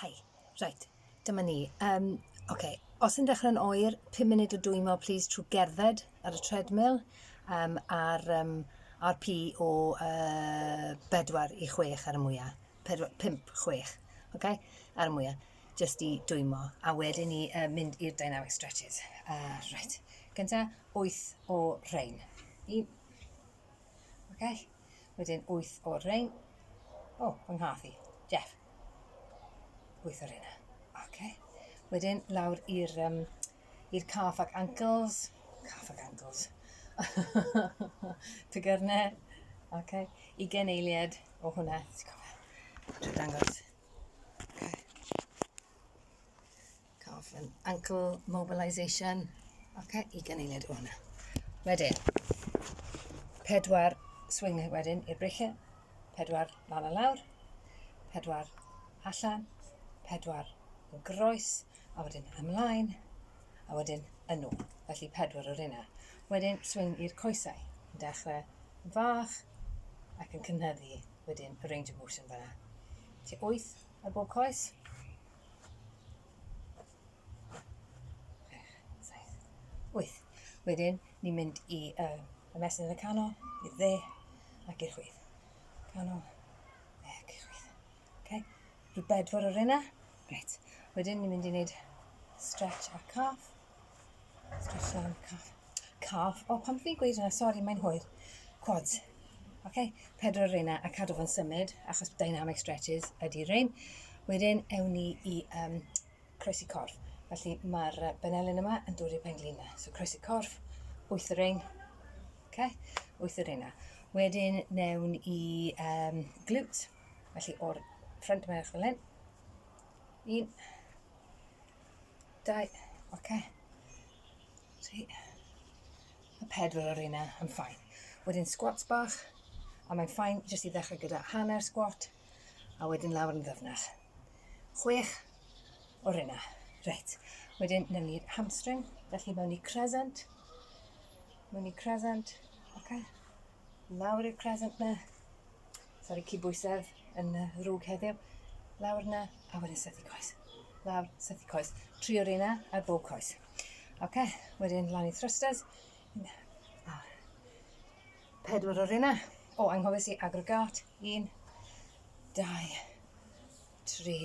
Hi. Reit, dyma ni. Um, okay. Os yn dechrau'n oer, 5 munud o dwymo, please, trwy gerdded ar y treadmill um, ar um, RP o uh, 4 i 6 ar y mwyaf. 5, 6, okay? ar y mwyaf, just i dwymo. A wedyn ni uh, mynd i'r dynamic stretches. Uh, right. Gynta, 8 o rhain. 1, Okay. Wedyn 8 o'r rhain. O, oh, fy nghath i. Jeff. 8 o'r hynna. Okay. Wedyn lawr i'r um, i'r calf ac ankles. Calf ac ankles. Tygyrne. Okay. I gen eiliad o hwnna. Ti'n cofio? Dwi'n dangos. Okay. Cough and ankle mobilisation. Ok, i gyneiliad o hwnna. Wedyn, pedwar swing wedyn i'r breichiau, pedwar lan a lawr, pedwar allan, pedwar o groes, a wedyn ymlaen, a wedyn yn ôl. Felly pedwar o'r yna. Wedyn swing i'r coesau. Yn dechrau yn fach ac yn cynhyddu wedyn y range of motion fanna. Ti wyth ar bob coes, wyth. Wedyn, ni'n mynd i y, y mesur yn y canol, i'r dde, ac i'r chwith. Canol, dde, ac i'r chwith. Okay? Rhyw bedwar o'r yna. Right. Wedyn, ni'n mynd i wneud stretch ar cath. Just um cough cough. O pan fi'n gweud hwnna, sori mae'n hwyr. Quads. Oce? Pedwar o reina a cadw fo'n symud achos dynamic stretches ydy rein. Wedyn ewn ni i um, croesi corff. Felly mae'r uh, benelin yma yn dod i'r penglin yna. So croesi corff, wyth o rein. Oce? Wyth o reina. Wedyn newn i um, glutes. Felly o'r ffrant merch fel hyn. Un, Dau. Oce. Okay. Tri. A pedwar o'r un yn ffain. Wedyn squats bach, a mae'n ffain jyst i ddechrau gyda hanner squat, a wedyn lawr yn ddyfnach. Chwech o'r un Reit. Wedyn, newn ni'r hamstring, felly mewn i crescent. Mewn i crescent. Oce. Okay. Lawr i'r crescent na. Sori, cydbwysedd yn y rhwg heddiw. Lawr na, a wedyn sethu coes. Lawr, sethu coes. Tri o'r yna, a bob coes. Oce, okay. wedyn lan i thrusters. A pedwar o'r yna. O, oh, anghofus i aggregate. Un, dau, tri,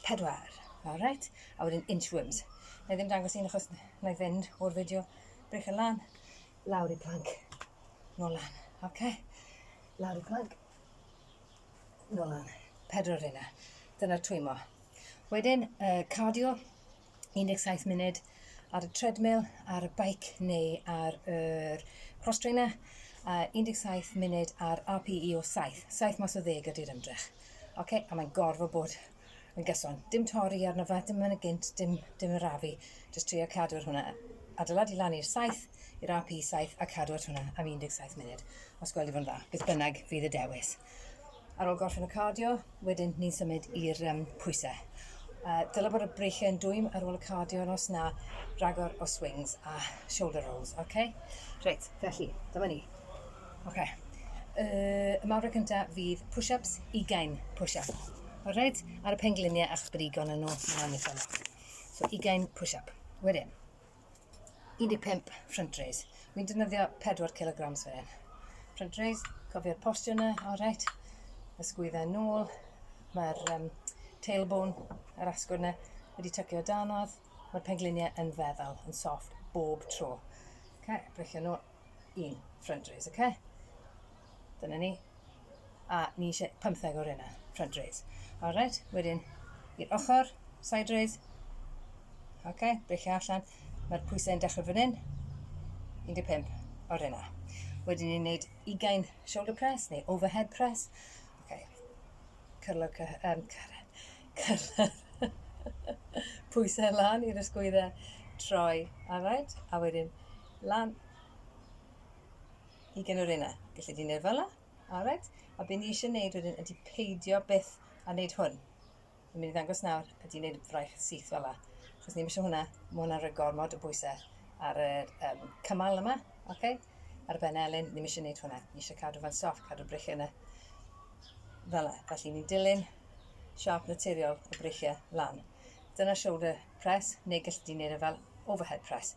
pedwar. Alright, a wedyn inchworms. Na i ddim dangos un achos na i fynd o'r fideo brech y lan. Lawr i plank. Nôl lan. Oce. Lawr i plank. Nôl lan. Pedwar yna. Dyna'r twymo. Wedyn, uh, cardio, 17 munud ar y treadmill, ar y bike neu ar y er cross trainer, uh, 17 munud ar RPE o 7. 7 mas o ddeg ydy'r ymdrech. Oce, a mae'n gorfod bod yn gyson. Dim torri arno fe, dim yn y gynt, dim, dim yr afu. Just trio cadw'r hwnna. Adeiladu lan i'r 7, i'r AP 7, a cadw at hwnna am 17 munud. Os gweld i fod yn dda, beth bynnag fydd y dewis. Ar ôl gorffen y cardio, wedyn ni'n symud i'r um, pwysau. Uh, dylai bod y breichiau yn dwym ar ôl y cardio, yn os na, ragor o swings a shoulder rolls, oce? Okay? Reit, felly, dyma ni. Ok. Yy, y mawrau cynta fydd push-ups, 20 push-up. Alright? Ar y pengliniau a'ch brigon yn nhw, mae'n eitha lot. So, 20 push-up. Wedyn, 15 front raise. Wy'n defnyddio 4 kg fan hyn. Front raise, cofio'r postio yna, alright. Ysgwydda yn ôl. Mae'r um, tailbone, yr asgwrn yna, wedi tycio danodd. Mae'r pengliniau yn feddal, yn soft, bob tro. Ok, brecio nôl. un front raise, ok? Dyna ni. A ni eisiau 15 o'r yna, front raise. Alright, wedyn i'r ochr, side raise. Ok, beichio allan. Mae'r pwysau yn dechrau fan hyn. 15 o'r yna. Wedyn ni'n gwneud 20 shoulder press neu overhead press. Ok, cyrlo, um, cyrlo, pwysau lan i'r ysgwyddau troi, alright? A wedyn lan i gen yr un Felly fi'n neud fel Alright. A be ni eisiau neud wedyn ydy peidio byth a neud hwn. Fi'n mynd i ddangos nawr ydy neud fraich syth fel la. Chos ni'n eisiau hwnna, mae hwnna'n rhoi gormod o bwysau ar y um, cymal yma. Okay? Ar ben elyn, ni'n eisiau neud hwnna. Ni eisiau cadw fan soft, cadw breichiau yna. Fel la. Felly ni'n dilyn siarp naturiol y breichiau lan. Dyna shoulder press, neu gallu di wneud e fel overhead press.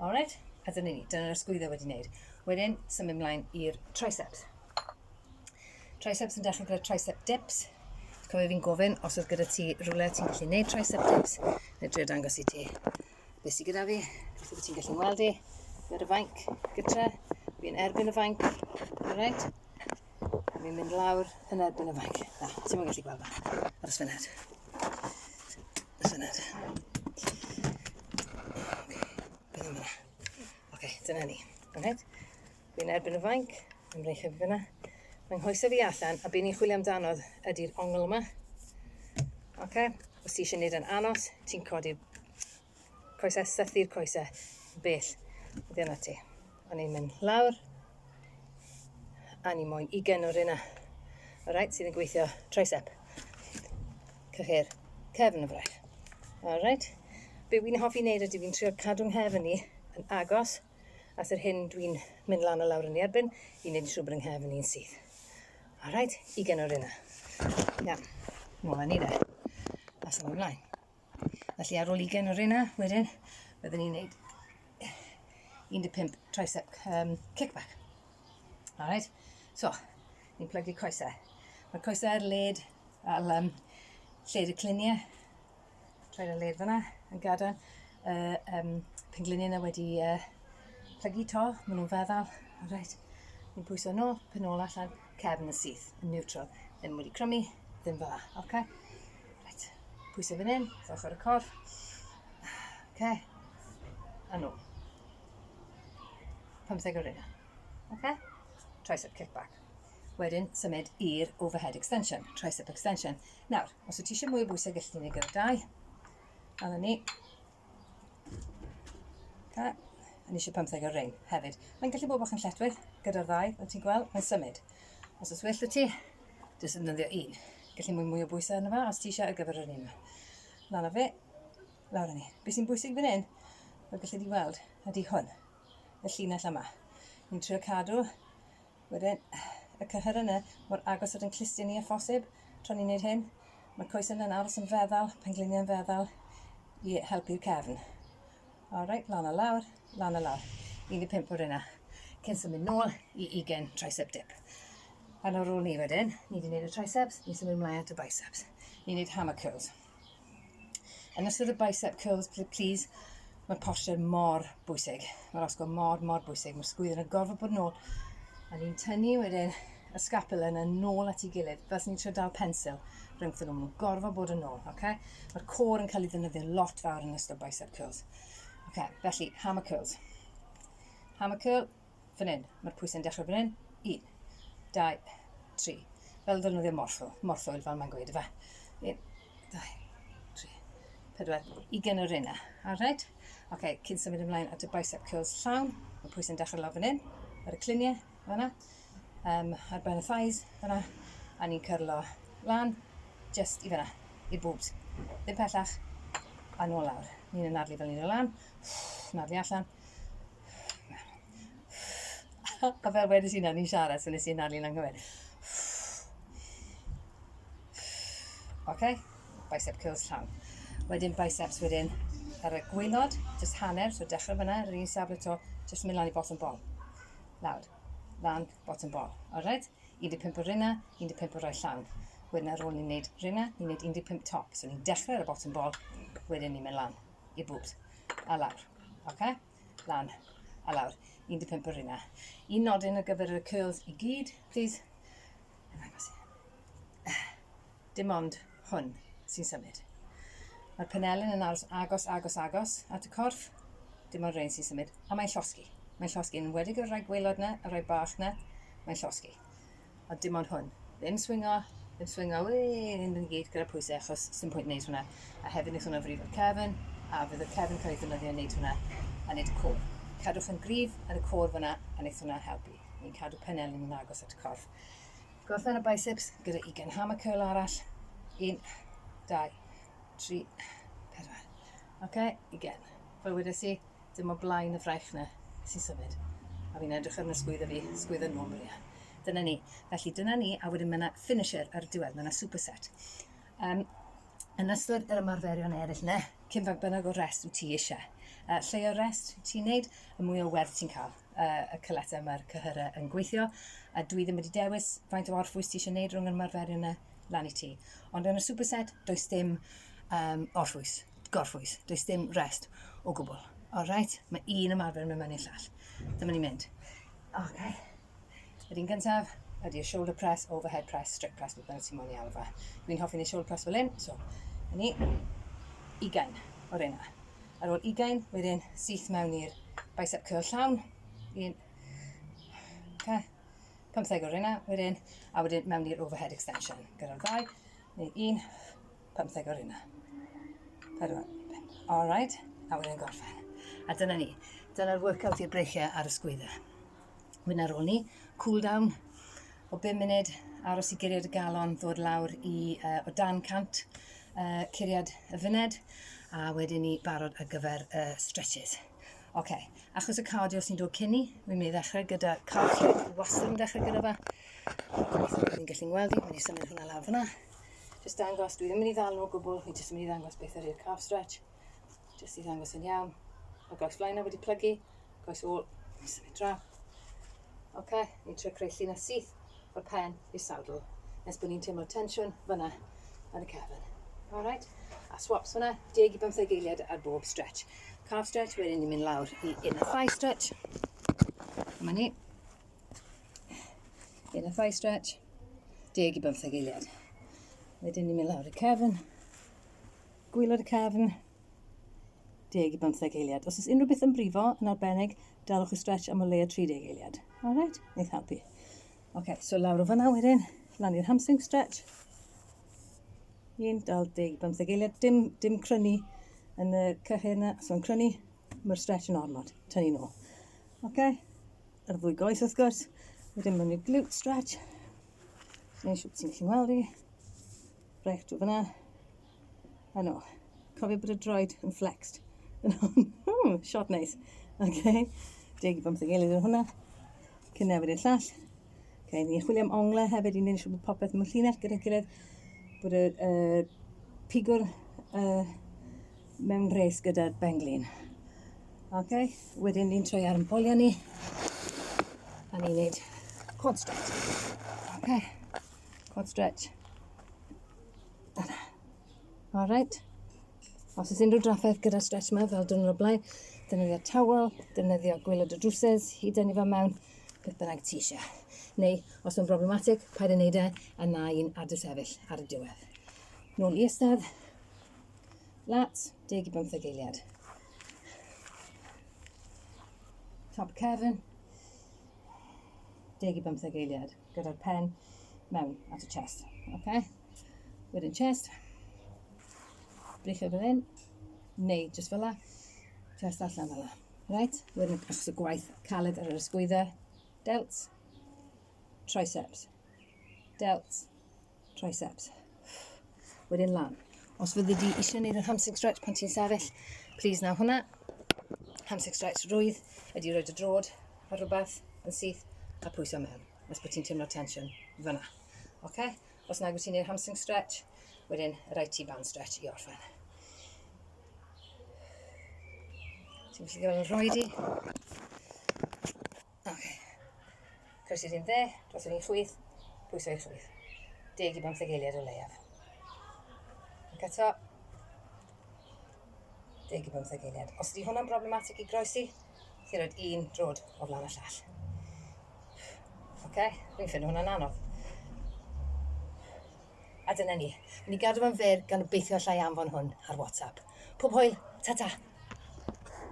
Alright, a dyna ni, dyna'r ysgwyddo wedi wneud. Wedyn, symud ymlaen i'r triceps. Triceps yn dechrau gyda tricep dips. Cofio fi'n gofyn, os oedd gyda ti rhywle ti'n gallu gwneud tricep dips, neu drio dangos i ti beth sy'n gyda fi, beth wyt ti'n gallu gweld i, gyda'r fainc gytra, fi'n erbyn y fainc, alright? Fi'n mynd lawr yn erbyn y fainc. Na, ti'n mwyn gallu gweld na, ar y sfyned. That's it. Bydd yma. Ok, dyna ni. Rhaid. Fi'n erbyn y fainc, yn rhaid chyfyd fyna. Mae'n nghoesau fi allan, a byn i'n chwilio amdanodd ydy'r ongl yma. Ok, os ti eisiau gwneud yn anos, ti'n codi'r coesau, sythu'r coesau, bell. Dyna ti. O'n i'n mynd lawr, a ni moyn ugen o'r un a. O'r rhaid sydd yn gweithio tricep. Cyhyr, cefn y fraich. O'r rhaid. Be wy'n hoffi wneud ydy fi'n trio cadw nghefn ni yn agos at yr hyn dwi'n mynd lan a lawr yn ei erbyn i wneud yn siŵr bod yng nghefn ni'n syth. O'r rhaid, ugen o'r un a. Iawn, nôl â ni de. As ymlaen. Felly ar ôl 20 o rena, wedyn, byddwn ni'n neud 15 tricep um, kickback. Alright? So, ni'n plygu coesau. Mae coesau ar led, al, um, lled y cliniau, trwy'r y led fyna, yn gadael. Uh, um, pengliniau yna wedi uh, plygu to, maen nhw'n feddal. Alright? Ni'n pwyso nôl, pyn nôl allan. cefn y syth yn niwtral, ddim wedi crymu, ddim fel la, oce? Okay? Right, pwysau fan hyn, wrth ochr y corff, oce? Okay? A nhw. 15 o'r yna, oce? Okay? Tricep kick back. Wedyn, symud i'r overhead extension, tricep extension. Nawr, os wyt ti eisiau mwy o bwysau, gallwn ni wneud gyda dau. A ni, Ca. A ni eisiau pymtheg o ring hefyd. Mae'n gallu bod bach yn lletwydd gyda'r ddau, fel ti'n gweld, mae'n symud. Os oes well y ti, jyst yn nyddio un. Gallu mwy mwy o bwysau arno fe os ti eisiau ar gyfer yr un yma. Lan o fe, lawr o ni. Be sy'n bwysig fan hyn, fel gallu di weld, ydy hwn, y llinell yma. Ni'n trio cadw Wedyn, y cyhyr yna, mor agos at ein clustiau ni â phosib, tra ni'n neud hyn. Mae'r coes yna yn aros yn feddal, pengliniau yn feddal, i helpu'r cefn. Alright, lan a lawr, lan a lawr. 15 o'r yna, cyn symud nôl i 20 tricep dip. Yn o'r ôl ni wedyn, ni wedi gwneud y triceps, ni'n symud ymlaen at y biceps. Ni'n gwneud hammer curls. Yn ystod y bicep curls, please, mae posture mor bwysig. Mae'r osgo mor, mor bwysig. Mae'r sgwydd yn y gorfod bod yn ôl. A ni'n tynnu wedyn y scapula yna nôl at ei gilydd, fel sy'n ni'n trio dal pensil rhwngth nhw. Mae'n gorfod bod yn ôl, oce? Okay? Mae'r cor yn cael ei ddynyddio lot fawr yn ystod bicep curls. Oce, okay, felly, hammer curls. Hammer curl, fan hyn, mae'r pwysau'n dechrau fan hyn, un, dau, tri, fel ddefnyddio morthwyl, morthwyl fel mae'n gweud, efe, un, dau, tri, pedwar, i gen yr una, alright? Oce, okay, cyn symud ymlaen at y bicep curls llawn, mae pwysau'n dechrau lawr fan hyn, ar y cliniau, fanna, um, ar ben y thighs, fanna, a ni'n cyrlo lan, just i fanna, i'r boobs, ddim pellach, a nôl lawr. Ni'n anadlu fel ni'n dod lan, nadlu allan, A fel wedys i nawr, ni'n siarad, so wnes i anadlu'n anghywir. OK, bicep curls llawn. Wedyn biceps wedyn ar y gwylod, jyst hanner, so dechrau fyna, yr un safle to, jyst mynd lan i bottom ball. Lawr, lan, bottom ball. Alright? 15 o rinna, 15 o roi llawn. Wedyn ar ôl ni'n neud rinna, ni'n neud 15 top. So ni'n dechrau ar y bottom ball, wedyn ni'n mynd lan. i bwbs. A lawr. Oce? Lan. A lawr. 15 yr hynna. Un nodyn ar gyfer y curls i gyd, please. Dim ond hwn sy'n symud. Mae'r penelin yn aros agos, agos, agos at y corff. Dim ond rhain sy'n symud. A mae'n llosgi. Mae'n llosgi. Yn wedig y rhai gwylod na, y rhai bach na, mae'n llosgi. a dim ond hwn. Ddim swingo, ddim swingo, wee, hyn yn gyd gyda pwysau achos sy'n pwynt wneud hwnna. A hefyd wnaeth hwnna frifo cefn, a fydd y cefn cael ei ddynyddio wneud hwnna, a wneud y côr. Cadwch yn gryf ar y côr fyna, a wneud hwnna helpu. Ni'n cadw penel yn agos at y corff. Gorffen y biceps gyda 20 hammer curl arall. 1, 2, 3, 4. Oce, okay, 20. Fel wedes i, Dim o blaen y fraich na sy'n symud. A fi'n edrych ar sgwydda fi, sgwydda nhw, Maria. Dyna ni. Felly dyna ni, a wedyn mae yna finisher ar y diwedd, mae yna superset. Um, yn ystod yr ymarferion eraill yna, cyn fag bynnag o rest wyt ti eisiau. Uh, lle o rest ti'n neud, y mwy o werth ti'n cael. Uh, y cyletau mae'r cyhyrau yn gweithio, a dwi ddim wedi dewis faint o orffwys ti eisiau neud rhwng yr ymarferion yna, lan i ti. Ond yn y superset, does dim um, orffwys. gorffwys. Does dim rest o gwbl. Alright, mae un ymarfer yn mynd mewn i'r llall. Dyma ni'n mynd. Ok. Yr un gyntaf ydy y shoulder press, overhead press, strip press, beth bynnag ti'n moyn i alw fe. Dwi'n hoffi ni shoulder press fel un, so, yn ni, ugain o'r un yna. Ar ôl ugain, wedyn syth mewn i'r bicep curl llawn. Un, okay. 15 o'r un yna, wedyn, a wedyn mewn i'r overhead extension. Gyda'r ddau, neu un, Pymtheg o'r yna. Pedwar. All right. A wedyn gorffen. A dyna ni. Dyna'r workout i'r breichiau ar y sgwydda. Mynd ar ôl ni. Cool down o 5 munud. Aros i guriad y galon ddod lawr i uh, o dan cant uh, curiad y fyned. A wedyn ni barod ar gyfer uh, stretches. Oce, okay. achos y cardio sy'n dod cyn ni, wi'n mynd i ddechrau gyda cardio. Wastad yn dechrau gyda fe. Ni'n gallu gweld i, mae'n i symud hwnna lawr fyna. Jyst dangos, dwi ddim yn ei ddal nhw o gwbl, fi jyst yn mynd i ddangos beth ydy'r calf stretch. Jyst i ddangos yn iawn. Mae goes flaen wedi plygu, goes ôl, symud draw. Oce, okay, ni'n trio creu llun a syth o'r pen i'r saddle. Nes bod ni'n teimlo tensiwn fyna yn y cefn. Alright, a swaps fyna, deg i bymtheg eiliad ar bob stretch. Calf stretch, wedyn ni'n mynd lawr i inner thigh stretch. Dyma ni. Yn y thigh stretch, deg i bymtheg eiliad. Wedyn ni'n mynd lawr y cefn, gwylod y cefn, deg i bymtheg eiliad. Os oes unrhyw beth yn brifo yn arbennig, dalwch y stretch am o leia 30 eiliad. Alright? Neith helpu. Ok, so lawr o fyna wedyn, lan i'r hamstring stretch. Un, dal, deg, bymtheg eiliad. Dim, dim crynu yn y cyhyr yna, so yn crynu, mae'r stretch yn ormod. Tynnu nôl. Ok? Ar y ddwy goes wrth gwrs. Wedyn mae'n rhaid glute stretch. Neu siwp ti'n gallu weld i. Rhaid drwy fyna. A no. Cofio bod y droed yn flexed. Yn hwn. Hmm, shot neis. OK. Deg i bump deg eilydd yn hwnna. Cyn newid i'r llall. OK, ni'n chwilio am onglau hefyd i wneud siwp bod popeth mewn llinell gyda'n gilydd. Bod y uh, pigwr uh, mewn rhes gyda'r benglin. Ok, wedyn ni'n troi ar yn boliau ni. A ni'n neud quad stretch. Ok, quad stretch. Dyna. Alright. Os oes unrhyw drafferth gyda'r stretch yma, fel dyn nhw'n blaen, defnyddio tawel, defnyddio gwylod o drwsys, hyd yn fan mewn, beth bynnag ti eisiau. Neu, os mae'n broblematic, paid yn neud e, a na i'n adw sefyll ar y diwedd. Nôl i ystad, lats, deg i bymtheg eiliad. Top cefn, deg i bymtheg eiliad, gyda'r pen mewn at y chest. Okay? Wedyn chest, brichio fel hyn, neu just fel la, chest allan fel la. Right? Wedyn os y gwaith caled ar yr ysgwydda, delts, triceps. delts, triceps. Wedyn lan. Os fyddi di eisiau gwneud yr hamstring stretch pan ti'n sefyll, please naw hwnna. Hamstring stretch rwydd ydy roed y drod ar rhywbeth yn syth a pwyso mewn. Os bod ti'n teimlo tension fyna. Okay? Os nag wyt ti'n gwneud hamstring stretch, wedyn rhaid ti band stretch i orffen. Ti'n gallu gael yn rhoi di. Ok. Croeso i'r un dde, dros yr un llwyth, pwyso i'r llwyth. Deg i bymtheg eiliad o leiaf. Ac eto, deg i bymtheg eiliad. Os ydy hwnna'n broblematic i groesi, ti'n rhoi un drod o flaen y llall. Ok, dwi'n ffynnu hwnna'n anodd. A dyna ni. Ni gadw fo'n fer gan obeithio allai anfon hwn ar WhatsApp. Pob hwyl, ta-ta!